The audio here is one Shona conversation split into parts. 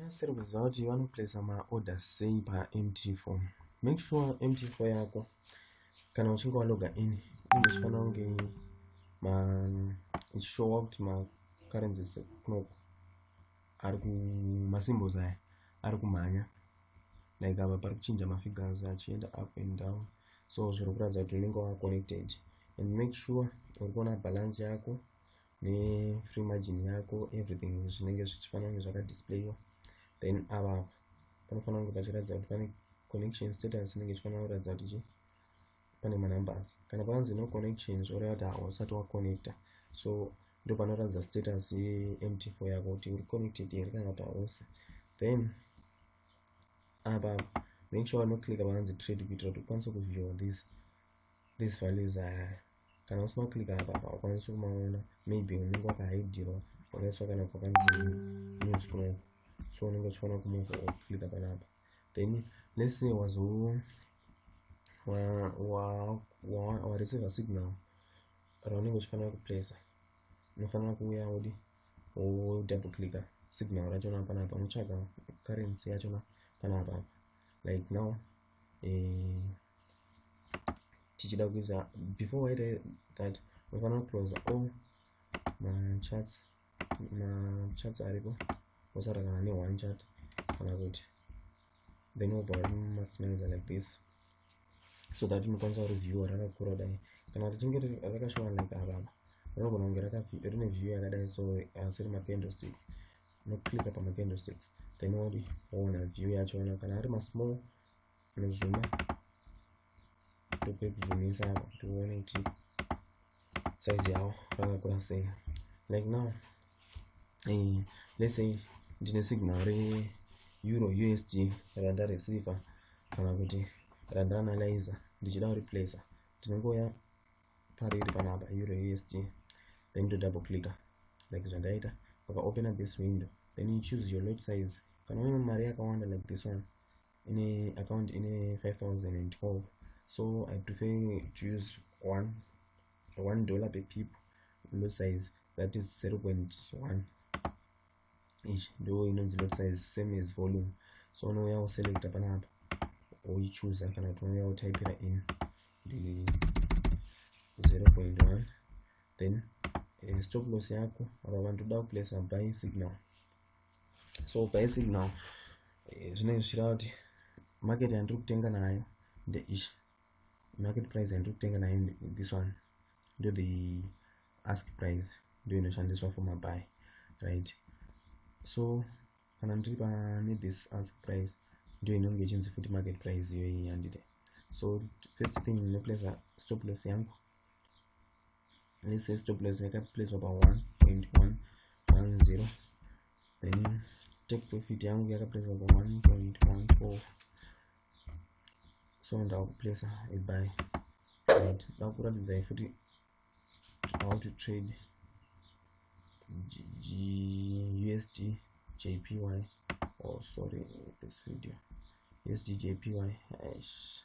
Asiri kuziva kuti vanoplacer maorder sei paMT4. Make sure MT4 yako kana uchinge waloga in inge ichifanira kunge ma ichishowa kuti macurrencies ekunoku ari kumasymbols aya ari kumhanya like apa pari kuchinja mafigures achienda up and down so zviri kuratidza kuti unenge wava connected and make sure uri kuona balance yako nefree margin yako everything zvinenge zvichifanira kunge zvakadisplayiwa then ava panofanira kunge pachiratidza kuti pane connection status inenge ichifanira kuratidza kuti chii pane manumbers kana panzi no connection zvoreva kuti hausati waconnecta so ndo panoratidza status yemtfo yako kuti uri connected here kana kuti hausi then apa make sure unoclicka panzi trade kuitira kuti ukwanise kuviewa this these values aya kana usina kuclika apa haukwanisi kumaona maybe unenge wakahidirwa wakaiswa kana kwakanzi new scroll so unenge uchiona kumove woclika panapa then let's say wazo wareceiver signal raunenge uchifanira kuplacer unofanira kuuya wodi wodouble clicker signal rachona panapa unotsvaga currency yachona panapa like now eh, tichida kuisa before waita that unofanira kuclose all machats machats aripo wosara kana ne one chat kana kuti then wobva wari maximizer like this so that unokwanisa kureviewa rakakura dai kana kuti tinge rakashona like avava rinogona kunge rine view yakadai so asi rima candlestick unoclicka pama candlesticks then wodi woona view yachona kana ari masmall nozuma tope kuzumisa apa kuti uone kuti size yawo rakakura sei like now eh, let's say ndine signal re euro usd randareceiva kana kuti randaanalyza ndichida kureplacer ndinongoya pariri panapa euro usd then to double clicker like zvandaita ukaopen up this window then you choose your lot size kana une mari yakawanda like this one ine account ine 5012 so i prefer to use one one dollar per pip lot size that is 0 0.1 ichi ndo inonzi lot size same as volume so unouya woselecta panapa woichuza kana kuti unouya wotypira in ndi 0.1 then eh, stop loss yako apa vanhu toda kuplace buy signal so basic now eh, zvinenge zvichireva kuti market yandiri kutenga nayo ndeichi market price yandiri kutenga nayo this one ndo the ask price ndo inoshandiswa for mabuy right so kana ndiri pane this ask price ndo inonge ichinzi futi market price iyoyi yandite so first thing ndinoplace stop loss yangu let's say stop loss yaka place pa 1.110 then take profit yangu yaka place pa 1.14 so ndaku place a buy right ndaku ratidza ifuti how to trade usd jpy oh sorry this video usd jpy eish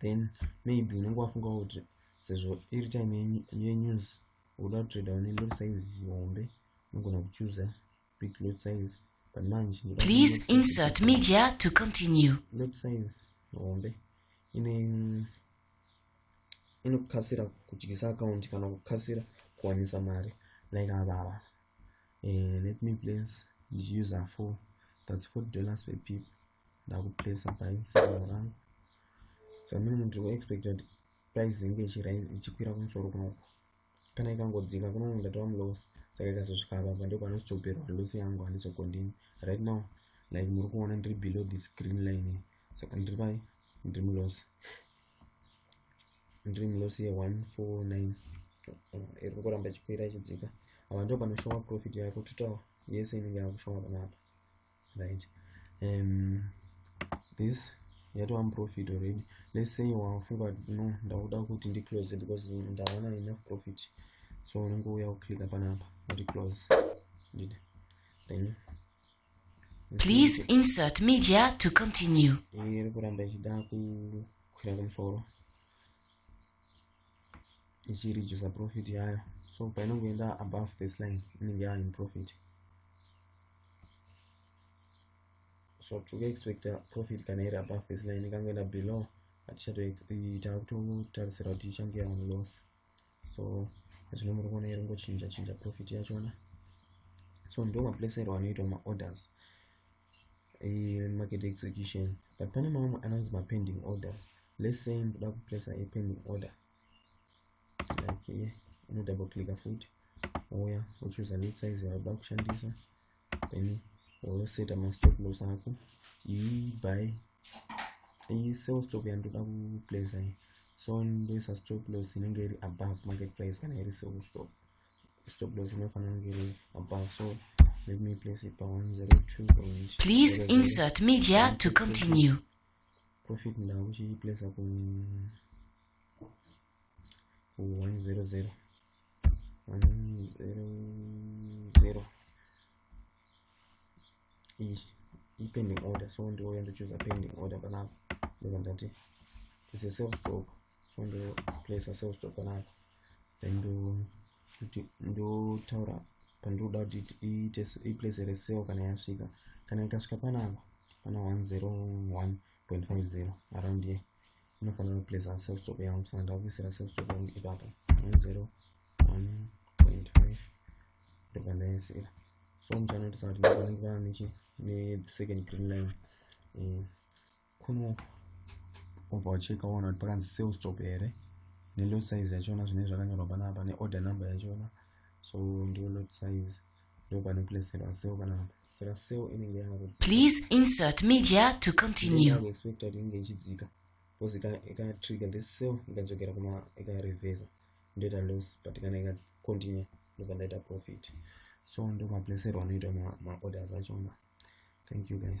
then maybe unenge wafunga kuti sezvo iri time yenews uda kutrader une lot size hombe unogona kuchuza big lot size but manje please insert media to continue lot size hombe ine inokasira kudyisa account kana kukasira kuwanisa mari like avava uh, let me place user four that's four dollars per pip ndakuplacer price ora samini munhu tiri kuexpecta kuti price inge ichikwira kumusoro kunoku kana ikangodzika kunoku ndatova muloss saka ikazosvika apapa ndo panozotoperwa loss yangu handizocontinue right now like muri kuona ndiri below this green line saka ndiri pai ndiri muloss ndiri muloss ye 149 iri kuramba ichikwira ichidzika apa ndo panoshowa profit yako totawa yese inenge yakushowa panapa right um, this yatova muprofit already let's say wafunga no ndakuda kuti ndiclose because ndaona enough profit so unongouya kuclicka panapa kuti close ndid then please insert media to continue iri kuramba ichida kukwira kumusoro ichireducer profit yayo so painongoenda above this line inenge yava in profit so tikuexpecta profit kana iri above this line ikangoenda below hatichatotarisira kuti ichange yava loss so zvino muri kuona iri ngochinja chinja profit yachona so ndo maplacerwo anoitwa maorders market execution but pane mamwe anonzi mapending orders let's say ndoda kuplacer a pending order like here unodouble clicka futi wouya wochuza lot size yauda kushandisa then woseta mastop loss ako iyi by iyi sell stop yandoda kuplacer iyi so ndoisa stop loss inenge iri above market price kana iri sell stop stop loss inofanira kunge iri above so let me place it pa 102 point please insert media to continue profit ndakuchiplacer ku 100 100 iyi ipending order so ndouya ndochuza pending order panapa ndobva ndati it's a self stock so ndo place ourselves to panapa then ndo kuti ndotaura pandinoda kuti iite iplace ere seo kana yasvika kana ikasvika panapa pana 101.50 around here inofanira kuplace a self stop yangu saka ndakuisira self stop yangu ipapo 101.5 ndobva ndaisira so muchanoitisa kuti ndovanenge vana nechi ne second green line eh, kuno obva ucheka uona kuti pakanzi sale stop here nelot size yachona zvinenge zvakanyorwa panapa neorder number yachona so ndiyo lot size ndopanoplacerwa sale panapa saka sale inenge please insert media to continue expect kuti inenge ichidzika because ikatrigger this sale ikadzokera kuma ikarevesa ndoita loss but kana ikacontinue ndobva ndaita profit so ndomaplacerwa anoita maorders achona thank you guys